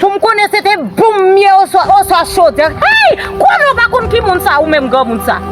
Poum konnen se te boum ye oswa oswa chodè. Hey! Kouman ou pa konn ki moun sa ou menm granmoun sa?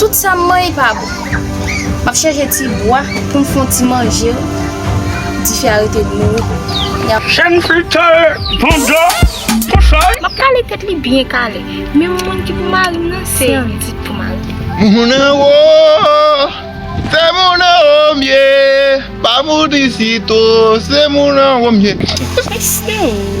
Tout sa m manyen pa bon. M ap chèche ti bwa pou m fon ti manje o. Dife a rete nouri. Jenn fi tare pran dlo pou chay. M ap kale tèt li byen kale. Menm moun ki pou mari m nan se yon tit pou mari m. Moun anwo, se moun anwo m ye. Pa moun isit o, se moun anwo m ye. Mwen se yon.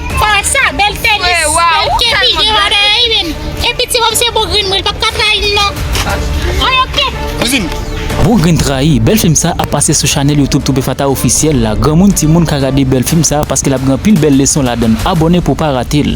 Paret sa bel tenis bel kepi gen valè wi menn e piti wap se bougrinn mwen li pap ka trayim non Wi ok. Bougrinn trayi, bèl film sa ap pase sou chanèl youtube Toupefata officiel la granmoun timoun ka gade bèl film sa paske lap gen anpil bèl leson ladann abòne pou w pa rate l.